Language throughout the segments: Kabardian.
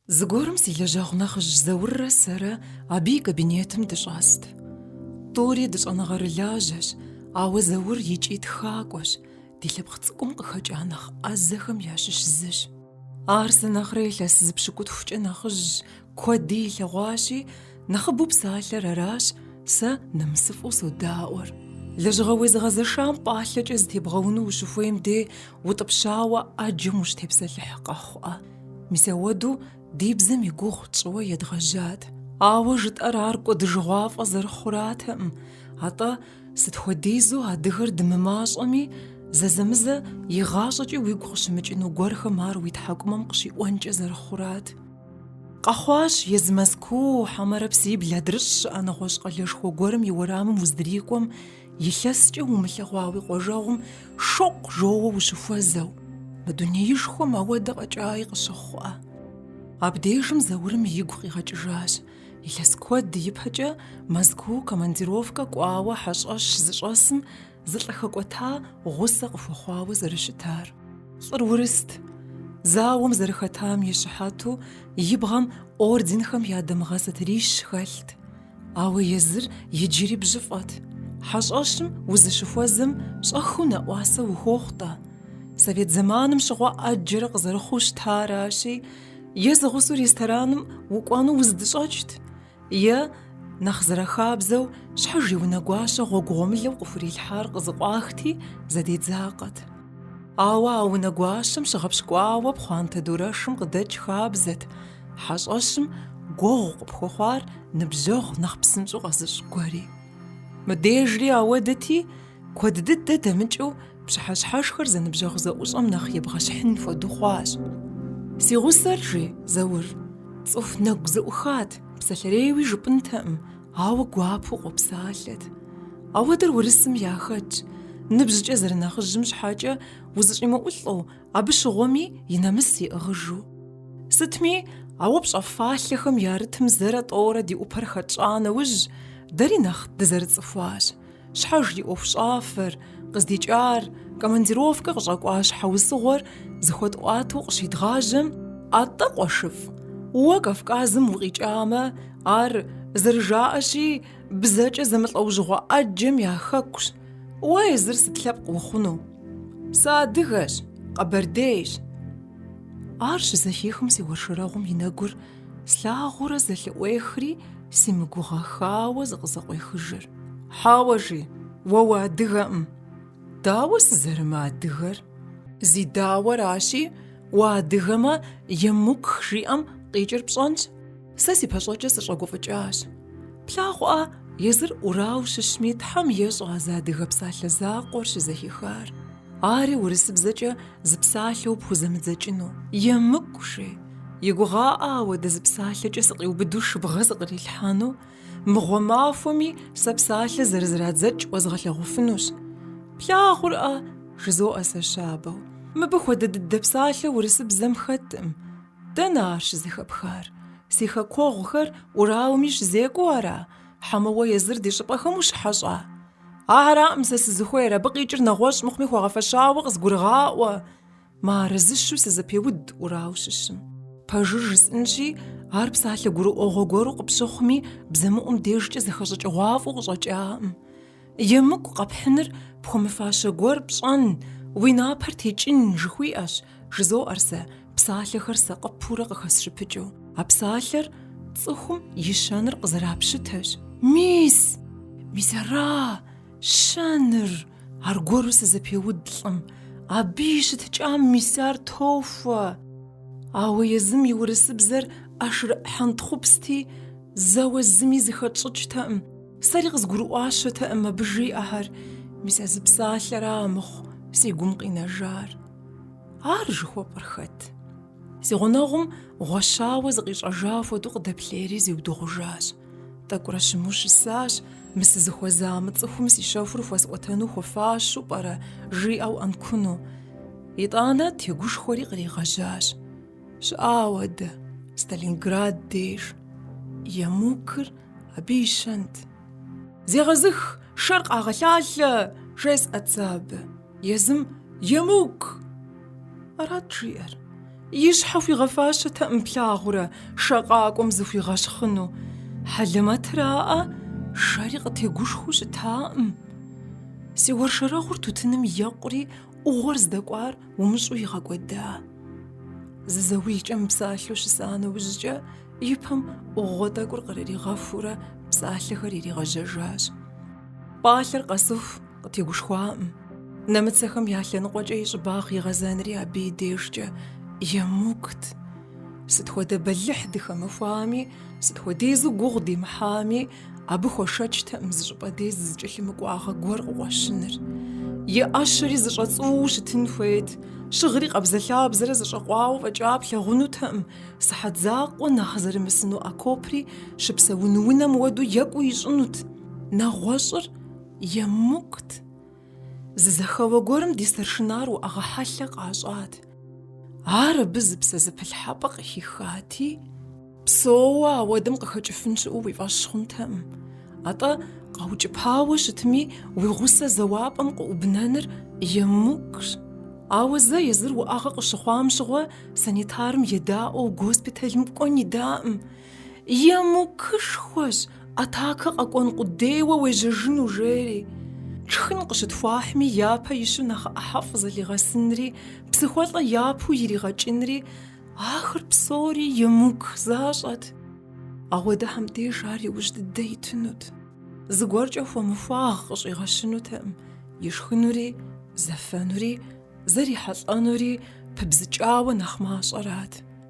Зыгуэрым си лэжьэгъу нэхъыжь Зауррэ сэрэ абы и кабинетым дыщӏэст. Тӏури дыщӏэныгъэрылажьэщ, ауэ Заур икӏи тхакӏуэщ, ди лъэпкъ цӏыкӏум къыхэкӏа нэхъ ӏэзэхэм ящыщ зыщ. Ар сэ нэхърэ илъэс зы пщыкӏутхукӏэ нэхъыжьщ, куэди илъэгъуащи, нэхъыбэу псалъэр аращ сэ нэмысыфӏэу содаӏуэр. Лэжьыгъэ уезыгъэзэшам пӏалъэкӏэ зытебгъэуну ущыхуейм деж утӏыпщауэ ӏэджэм ущытепсэлъыхь къэхъуӏэ. Мис ауэдэу ди бзэм и гугъу тщӏыуэ едгъэжьат. Ауэ жытӏэр ар кӏуэдыжыгъуафӏэ зэрыхъуратэкъым, атӏэ сыт хуэдизу адыгэр дымымащӏэми, зэзэмызэ игъащӏэкӏи уигу къыщымыкӏыну гуэрхэм ар уи тхьэкӏумэм къыщиӏуэнкӏэ зэрыхъурат. Къэхъуащ езы Мэзкуу, хьэмэрэ псибл адрыщӏ щыӏэ нэгъуэщӏ къалэшхуэ гуэрым и уэрамым уздрикӏуэм, Илъэскӏэ умылъэгъуа уи къуажэгъум шокъу жоуэ ущыхуэзэу, мы дунеишхуэм ауэдэ къэкӏаи къыщыхъуӏэ. Абдежым Заурым игу къигъэкӏыжащ, илъэс куэд ипэкӏэ Мэзкуу командировкэ кӏуауэ хьэщӏэщ зыщӏэсым зы лӏы хэкӏуэта гъусэ къыхуэхъуауэ зэрыщытар. Лӏыр урыст, зауэм зэрыхэтам и щыхьэту и бгъэм орденхэм я дамыгъэ сатырищ хэлът. Ауэ езыр иджыри бжьыфӏэт. Хьэщӏэщым узыщыхуэзэм щӏэхыу нэӏуасэ ухуохъу-тӏэ. Совет зэманым щыгъуэ ӏэджэрэ къызэрыхъуу щытаращи, е зэгъусэу рестораным укӏуэну узэдыщӏэкӏт, е, нэхъ зэрахабзэу, щхьэж и унэгуащэ гъуэгу гъуэмылэу къыхурилъхьар къызыкъуахти, зэдедзакъэт. Ауэ а унэгуащэм щыгъэпщкӏуауэ пхъуантэ дурэшым къыдэкӏ хабзэт хьэщӏэщым гуэгъу къыпхуэхъуар ныбжьэгъу нэхъ псынщӏэу къэзыщӏ гуэри. Мыбдежри ауэдэти, куэд дыдэ дэмыкӏыу пщыхьэщхьэшхэр зэныбжьэгъу зэӏущӏэм нэхъ ебгъэщхьын хуэдэу хъуащ. Си гъусэр, жи Заур, цӏыху нэгу зэӏухат, псалъэрейуи жыпӏэнтэкъым, Ауэ гуапэу къопсалъэт. Ауэдэр урысым яхэтщ. Ныбжькӏэ зэрынэхъыжьым щхьэкӏэ узэщӏимыӏулӏэу, абы щыгъуэми и нэмыс иӏыгъыжу. Сытми, а уэ пщӏэ фалъэхэм ярытым зэрэ тӏэурэ ди ӏупэр хэтщӏа нэужь, дэри нэхъ дызэрыцӏыхуащ. Щхьэж ди ӏуэхущӏафэр, къыздикӏар, командировкэ къыщӏэкӏуа щхьэусыгъуэр зэхуэтӏуатэу къыщедгъажьэм, атӏэ къуэшыфӏ, уэ Кавказым укъикӏамэ, ар, зэрыжаӏэщи, бзэкӏэ зэмылӏэужьыгъуэ ӏэджэм я хэкущ, уэ езыр сыт лъэпкъ ухъуну? Сыадыгэщ, къэбэрдейщ. Ар щызэхихым си уэршэрэгъум и нэгур Слъагъурэ зэлъыӏуехри, симыгугъэхауэ зыкъызэкъуехыжыр. Хьэуэ жи, уэ уадыгэкъым. Дауэ сызэрымыадыгэр? Зи дауэращи, уадыгэмэ, емук жиӏэм къикӏыр пщӏэнщ. Сэ си пэщӏэкӏэ сыщӏэгуфӏыкӏащ. Плъагъурӏэ, езыр Урау щыщми Тхьэм ещӏэ а зы адыгэ псалъэ закъуэр щызэхихар. Ари урысыбзэкӏэ зы псалъэу пхузэмыдзэкӏыну. Емыкӏу, жи. И гугъаӏэ ауэдэ зы псалъэкӏэ сыкъиубыду шыбгъэ зыкърилъхьэну. Мыгъуэ махуэми сэ псалъэ зэрызрадзэкӏ уэзгъэлъэгъуфынущ. Плъагъурӏэ, жызоӏэ сэ щабэу. Мыбы хуэдэ дыдэ псалъэ урысыбзэм хэткъым. Дэнэ ар щызэхэпхар? Си хэкуэгъухэр Урауми щызекӏуэу ара? Хьэмэ уэ езыр ди щӏыпӏэхэм ущыхьэщӏа? Араӏым сэ сызыхуейр, абы къикӏыр нэгъуэщӏ мыхъуми хуэгъэфэщауэ къызгурыгъаӏуэ, мыарэзыщу сызэпеуд Урау щыщым. Пэжыр жысӏынщи, ар псалъэ гурыӏуэгъуэ гуэру къыпщыхъуми, бзэмыӏум дежкӏэ зэхэщӏыкӏыгъуафӏэу къыщӏэкӏаӏым. Емыкӏу къэпхьыныр пхуэмыфащэ гуэр пщӏэн, уи напэр текӏын жыхуиӏэщ, Жызоӏэр сэ, псалъэхэр сакъыпурэ къыхэсщыпыкӏыу. А псалъэр цӏыхум и щэныр къызэрапщытэщ. Мис! Мис ара щэныр! Аргуэру сызэпеуд лӏым. Абы и щытыкӏэм мис ар тохуэ! Ауэ езым и урысыбзэр ӏэшрыӏ хьэнтхъупсти, зэуэ зыми зыхэтщӏыкӏтэкъым, сэри къызгурыӏуащэтэкъым абы жиӏэхэр, мис а зы псалъэра мыхъу си гум къинэжар. Ар жыхуэпӏэр хэт? Си гъунэгъум гъуэщауэ зыкъищӏэжа хуэдэу къыдэплъейри зиудыгъужащ. Тӏэкӏурэ щыму щысащ, мы сызыхуэза мы цӏыхум си щэхур хуэсӏуэтэну хуэфащэу пӏэрэ жиӏэу ӏэнкуну. Итӏанэ тегушхуэри къригъэжьащ. Щыӏауэ дэ, Сталинград деж. Емукыр абы и щэнт. Зегъэзых, шэр къагъэлъалъэ! жесӏэт сэ абы. Езым емук! Арат жиӏэр. И щхьэ хуигъэфащэтэкъым плъагъурэ шэ къакӏуэм зыхуигъэщхъыну. Хьэлэмэтыр аӏэ, шэри къытегушхуу щытакъым. Си уэршэрэгъур тутыным екъури, ӏугъуэр здэкӏуар умыщӏу игъэкӏуэда. Зы заулкӏэ мыпсалъэу щыса нэужькӏэ и пэм ӏугъуэ тӏэкӏур кърыригъэхуурэ псалъэхэр иригъэжьэжащ. Пӏалъэр къэсыху, Къытегушхуакъым. Нэмыцэхэм я лъэныкъуэкӏэ и щӏыбагъ игъэзэнри абы и дежкӏэ емыкӏут. Сыт хуэдэ бэлыхь дыхэмыхуами, сыт хуэдизу гугъу демыхьами, абы хуэшэчтэкъым зы щӏыпӏэ деж зэкӏэлъымыкӏуагъэ гуэр къыкъуэщыныр. И ӏэщэри зэщӏэцӏууэу щытын хуейт, щыгъри къабзэлъабзэрэ зэщӏэкъуауэ фӏэкӏа плъагъунутэкъым, сыхьэт закъуэ нэхъ зэримысыну окопри щыпсэун унэм хуэдэу екӏуу ищӏынут. Нэгъуэщӏыр Емыкӏут! Зы зэхэуэ гуэрым ди старшинар уӏэгъэ хьэлъэ къащӏат. Ар абы зы псэзэпылъхьэпӏэ къыхихати, псоуэ ауэдэм къыхэкӏыфын щыӏэу уи фӏэщ хъунтэкъым. Атӏэ, къэукӏыпауэ щытми, уи гъусэ зэуапӏэм къыӏубнэныр емыкӏущ. Ауэ зэ езыр уӏэгъэ къыщыхъуам щыгъуэ санитарым едаӏуэу госпиталым кӏуэн идаӏым. Емыкӏушхуэщ, атакэ къэкӏуэн къудейуэ уежьэжыну, жери. Тшхын къыщытхуахьми, япэ ищу нэхъ ӏыхьэфӏ зылъигъэсынри, псыхуэлӏэ япэу иригъэкӏынри, ахэр псори емыкӏу защӏэт. Ауэдэхэм деж ар иужь дыдэ итынут. Зыгуэркӏэ хуэмыхуагъ къыщӏигъэщынутэкъым, ишхынури, зэфэнури, зэрихьэлӏэнури пыбзыкӏауэ нэхъ мащӏэрат.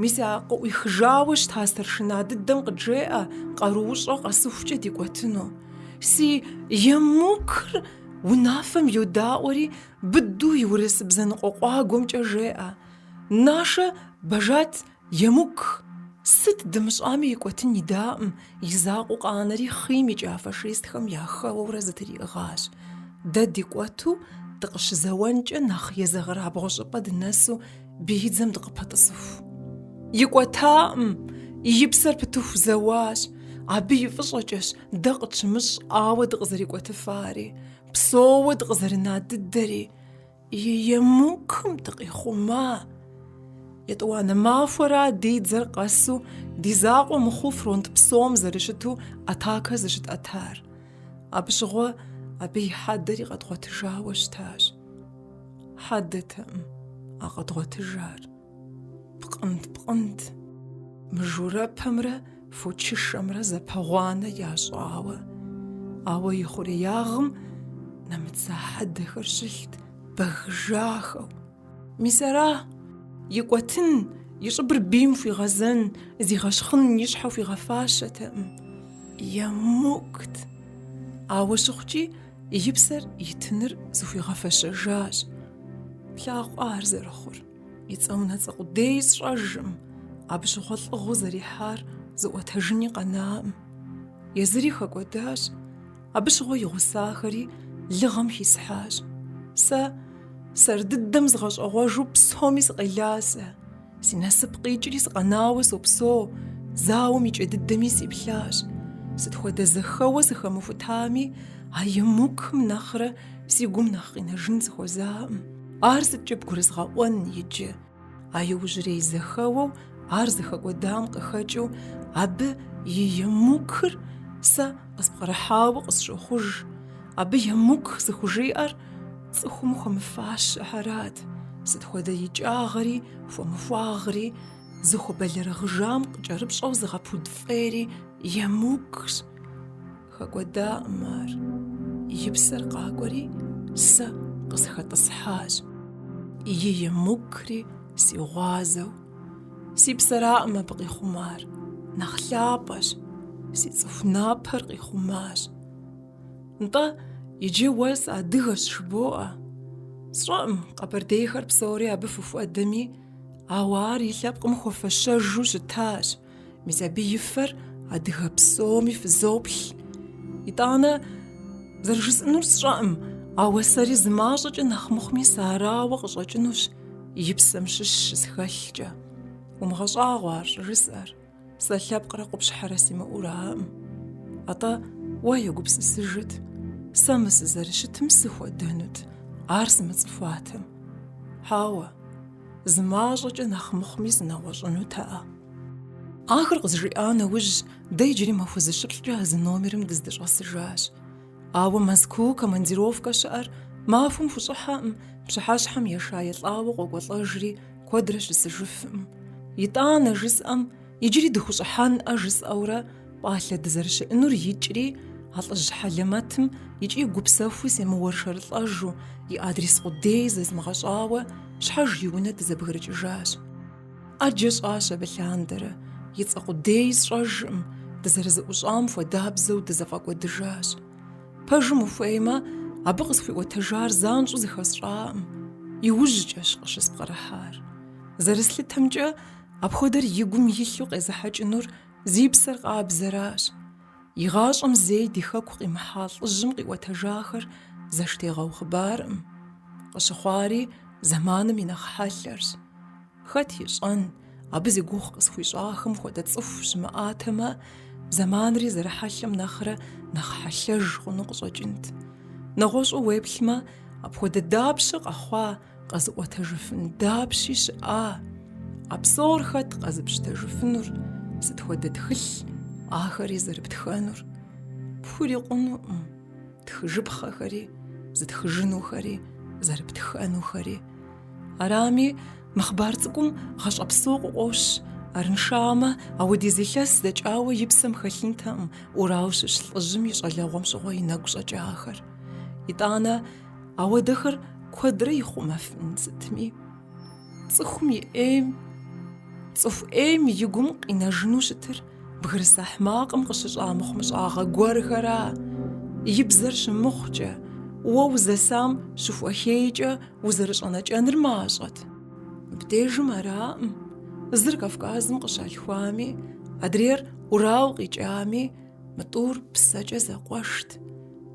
Мис а къыӏуихыжауэ щыта старшина дыдэм къыджеӏэ къаруущӏэ къэсыхукӏэ дикӏуэтыну. Си емукыр унафэм йодаӏуэри, быдэу и урысыбзэныкъуэ къуагуэмкӏэ жеӏэ. Нашэ бажат емук! Сыт дымыщӏами икӏуэтын идаӏым, и закъуэу къанэри хъийм икӏа фашистхэм яхэуэурэ зэтриӏыгъащ. Дэ дикӏуэту дыкъыщызэуэнкӏэ нэхъ езэгъырабгъу щӏыпӏэ дынэсу Бийдзэм дыкъыпэтӏысыху. Икӏуэтакъым, и псэр пытыху зэуащ. Абы и фӏыщӏэкӏэщ дэ къытщымыщӏауэ дыкъызэрикӏуэтыфари, псоуэ дыкъызэрына дыдэри, и емукым дыкъихъума. Етӏуанэ махуэра ди дзэр къэсу ди закъуэ мыхъуу фронт псом зэрыщыту атакэ зыщытӏэтар. Абы щыгъуэ абы и хьэдэри къэдгъуэтыжауэ щытащ. Хьэдэтэкъым а къэдгъуэтыжар. Пкъынт, пкъынт. Мыжурэпэмрэ фочышэмрэ зэпэгъуанэ ящӏауэ. Ауэ и хъуреягъым нэмыцэ хьэдэхэр щылът бэгыжахэу. Мис ара? Икӏуэтын, и щӏыбыр бийм хуигъэзэн, зигъэщхъын и щхьэ хуигъэфащэтэкъым. Емыкӏут. Ауэ щыхъукӏи, И псэр итыныр зыхуигъэфэщэжащ. Плъагъу ар зэрыхъур. И цӏэ унэцӏэ къудей сщӏэжкъым, абы щыгъуэ лӏыгъэу зэрихьар зыӏуэтэжыни къэнакъым. Езыри хэкӏуэдащ. Абы щыгъуэ и гъусахэри лыгъэм хисхьащ. Сэ сэр дыдэм згъэщӏэгъуэжу псоми сыкъелащ сэ. Си насып къикӏри сыкъэнауэ сопсо, зауэм и кӏэ дыдэми сиплъащ. Сыт хуэдэ зэхэуэ сыхэмыхутами, а емукым нэхърэ си гум нэхъ къинэжын сыхуэзакъым. Ар сыткӏэ бгурызгъэӏуэн иджы? А иужьрей зэхэуэу ар зыхэкӏуэдам къыхэкӏыу, абы и емукыр сэ къыспкърыхьауэ къысщохъуж. Абы емук зыхужиӏэр цӏыхум хуэмыфащэхэрат, сыт хуэдэ икӏагъри, хуэмыхуагъри, зыхуэбэлэрыгъыжам къыкӏэрыпщӏэу зыгъэпуд фӏейри емукщ. Хэкӏуэдакъым ар. И псэр къакӏуэри, сэ къысхэтӏысхьащ. И емукри си гъуазэу. Си псэракъым абы къихъумар, нэхъ лъапӏэщ, си цӏыху напэр къихъумащ. Нтӏэ, иджы уэ садыгэщ жыбоӏэ. Сщӏэӏым, къэбэрдейхэр псори абы фыхуэдэми, ауэ ар и лъэпкъым хуэфэщэжу щытащ, мис абы и фэр адыгэ псоми фызоплъ. Итӏанэ, зэрыжысӏэнур сщӏэӏым, ауэ сэри зымащӏэкӏэ нэхъ мыхъуми сарауэ къыщӏэкӏынущ и псэм щыщ щысхэлъкӏэ. Умыгъэщӏагъуэ ар щӏыжысӏэр. Сэ лъэпкърэ къупщхьэрэ симыӏэу араӏым. Атӏэ уэ егупсысыжыт, сэ мы сызэрыщытым сыхуэдэнут, ар сымыцӏыхуатэм. Хьэуэ, зы мащӏэкӏэ нэхъ мыхъуми сынэгъуэщӏынутэӏэ. Ахэр къызжиӏа нэужь, дэ иджыри махуэ зыщыплӏкӏэ а зы номерым дыздыщӏэсыжащ. Ауэ Мэзкуу командировкэ щыӏэр махуэм хущӏыхьэкъым, пщыхьэщхьэм еша елӏауэ къокӏуэлӏэжри, куэдрэ щысыжыфкъым. Итӏанэ жысӏэм, иджыри дыхущӏыхьэнӏэ жысӏэурэ пӏалъэ дызэрыщыӏэнур икӏри, а лӏыжь хьэлэмэтым икӏи гупсэхуу семыуэршэрылӏэжу, и адрес къудей зэзмыгъэщӏауэ, щхьэж и унэ дызэбгрыкӏыжащ. Ӏэджэ щӏащ абы лъандэрэ, и цӏэ къудей сщӏэжкъым, дызэрызэӏущӏам хуэдабзэу дызэфӏэкӏуэдыжащ. Пэжым ухуеймэ, абы къысхуиӏуэтэжар занщӏэу зыхэсщӏакъым, иужькӏэщ къыщыспкърыхьар. Зэрыслъытэмкӏэ, апхуэдэр и гум илъу къезыхьэкӏынур зи псэр къабзэращ. И гъащӏэм зэи ди хэку къимыхьа лӏыжьым къиӏуэтэжахэр зэштегъэу хъыбаркъым. Къыщыхъуари зэманым и нэхъ хьэлъэрщ. Хэт ищӏэн, абы зи гугъу къысхуищӏахэм хуэдэ цӏыху щымыӏатэмэ, зэманри зэрыхьэлъэм нэхърэ нэхъ хьэлъэж хъуну къыщӏэкӏынт. Нэгъуэщӏу уеплъмэ, апхуэдэ дапщэ къэхъуа Къэзыӏуэтэжыфын дапщи щыӏа? А псор хэт къэзыпщытэжыфынур? Сыт хуэдэ тхылъ ахэри зэрыптхэнур? Пхурикъунуӏым. Тхыжыпхъэхэри, зытхыжынухэри, зэрыптхэнухэри. Арами, мы хъыбар цӏыкӏум гъащӏэ псо къыкъуощ. Арыншамэ, ауэдиз илъэс дэкӏауэ и псэм хэлъынтэкъым Урал щыщ лӏыжьым и щӏалэгъуэм щыгъуэ и нэгу щӏэкӏахэр. Итӏанэ, Ауэдэхэр куэдрэ ихъумэфын сытми, цӏыхум и ӏейм, цӏыху ӏейм и гум къинэжыну щытыр бгырыс ахьмакъым къыщыщӏа мыхъумыщӏагъэ гуэрхэра, и бзэр щымыхъукӏэ, уэ узэсам щыхуэхейкӏэ узэрыщӏэнэкӏэныр мащӏэт. Мыбдежым араӏым, зыр Кавказым къыщалъхуами, адрейр Урал къикӏами, Мы тӏур псэкӏэ зэкъуэшт,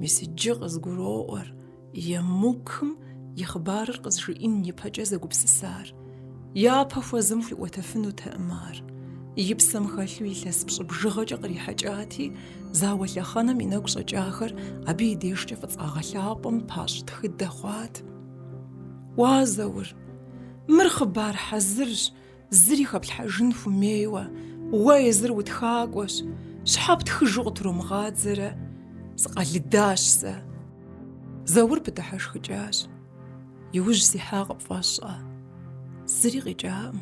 мис иджы къызгуроӏуэр Емукым и хъыбарыр къызжиӏин ипэкӏэ зэгупсысар. Япэ хуэзым хуиӏуэтэфынутэкъым ар. И псэм хэлъу илъэс пщӏы бжыгъэкӏэ кърихьэкӏати, зауэ лъэхъэнэм и нэгу щӏэкӏахэр абы и дежкӏэ фӏыцӏагъэ лъапӏэм пащӏ тхыдэ хъуат. Уа, Заур, мыр хъыбар хьэзырщ, Зыри хэплъхьэжын хумейуэ, уэ езыр утхакӏуэщ, щхьэ птхыжу къытромыгъадзэрэ? Сыкъэлыдащ сэ. Заур пыдыхьэшхыкӏащ. Иужь сихьа къыпфӏэщӏэ. Зыри къикӏакъым.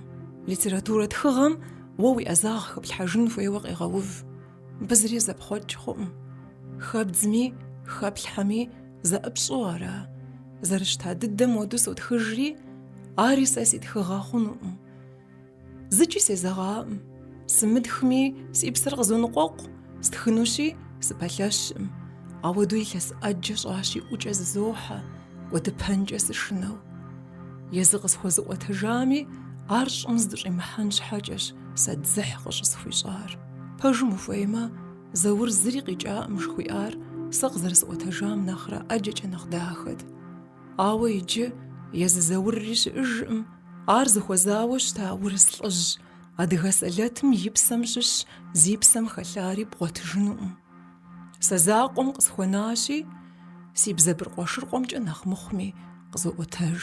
Литературэ тхыгъэм уэ уи ӏэзагъ хэплъхьэжын хуейуэ къегъэув. Абы зыри зэпхъуэкӏ хъуӏым. Хэбдзми, хэплъхьэми зэӏыпщӏэу ара? Зэрыщта дыдэм хуэдэу сотхыжри, ари сэ си тхыгъэ хъунукъым. Зыкӏи сезэгъаӏым. Сымытхми, си псэр къызоныкъуэкъу, стхынущи, сыпэлъэщӏым. Ауэду илъэс ӏэджэ щӏащи ӏукӏэ зызохьэ, кӏуэдыпэнкӏэ сышынэу. Езы къысхуэзыӏуэтэжами, ар щӏым здыщӏимыхьэн щхьэкӏэщ сэ дзыхь къыщӏысхуищӏар. Пэжым ухуеймэ, Заур зыри къикӏакъым жыхуиӏар сэ къызэрысӏуэтэжам нэхърэ ӏэджэкӏэ нэхъ дахэт. Ауэ иджы езы Заурри щыӏэжкъым, ар зыхуэзауэ щыта урыс лӏыжь, адыгэ сэлэтым и псэм щыщ зи псэм хэлъари бгъуэтыжынукъым. Сэ закъуэм къысхуэнащи, си бзэ быркъуэшыркъуэмкӏэ нэхъ мыхъуми къызоӏуэтэж.